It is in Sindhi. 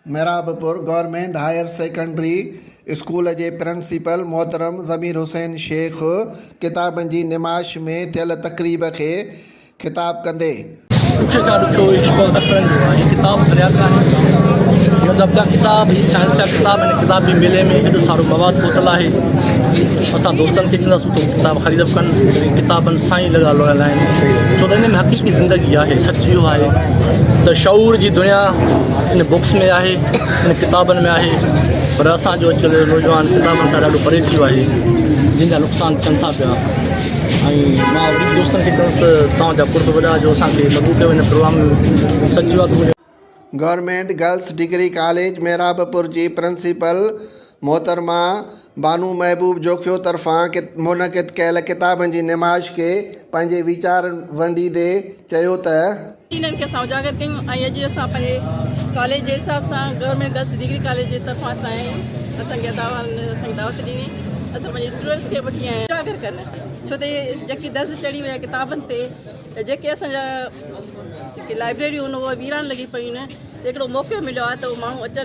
Mehrabpur government higher secondary school جي پرنسپل محترم ضمير حسين شيخ ڪتابن جي نمائش ۾ ٿيل تقريب کي خطاب ڪندي. پڇي ٿا ڏکيو هي عشق ۽ نفرن جو آهي هي ڪتاب پڙهيا ڪانهن توهين اهو ادب جا ڪتاب هي سائنس جا ڪتاب هن ڪتاب جي ميلي ۾ هيڏو سارو مواد پهتل آهي اسان دوستن کي چونداسون ته هو ڪتاب خريد ڪن ۽ ڪتابن سان ئي لڳا لوڙيل آهن ڇو ته ان ۾ حقيقي زندگي آهي سچ اهو آهي ته شعور جي دنيا ان بڪس ۾ آهي ان ڪتابن ۾ آهي پر اسان جو اڄڪلهه جو نوجوان ڪتابن کان ڏاڍو پري ٿي ويو آهي جن جا نقصان ٿين ٿا پيا ۽ مان وڏي دوستن کي چوس ته توهان جا قرب وڏا جو اسان کي مدعو ڪيو هن پروگرام ۾ سڏجو آهي ته منهنجو government girls degree college Mehrabpur جي پرنسپل محترمه بانو محبوب جوکيو طرفان منعقد ڪيل ڪتابن جي نمائش کي پنهنجي ويچار ونڊيندي چيو ته. انهن کي اسان اجاگر ڪيون ۽ اڄ اسان پنهنجي ڪاليج جي حساب سان گورنمينٽ گرلس ڊگري ڪاليج جي طرفان اسان آيا آهيون اسان کي ادا واهن اسان کي دعوت ڏني اسان پنهنجي اسٽوڊنٽس کي وٺي آيا آهيون اجاگر ڪن ڇو ته جيڪي درز چڙهي ويا ڪتابن تي ته جيڪي اسان جا جيڪي لائبريريون آهن اهي ويران لڳي پيون آهن ته هڪڙو موقعو مليو آهي ته ماڻهو اچن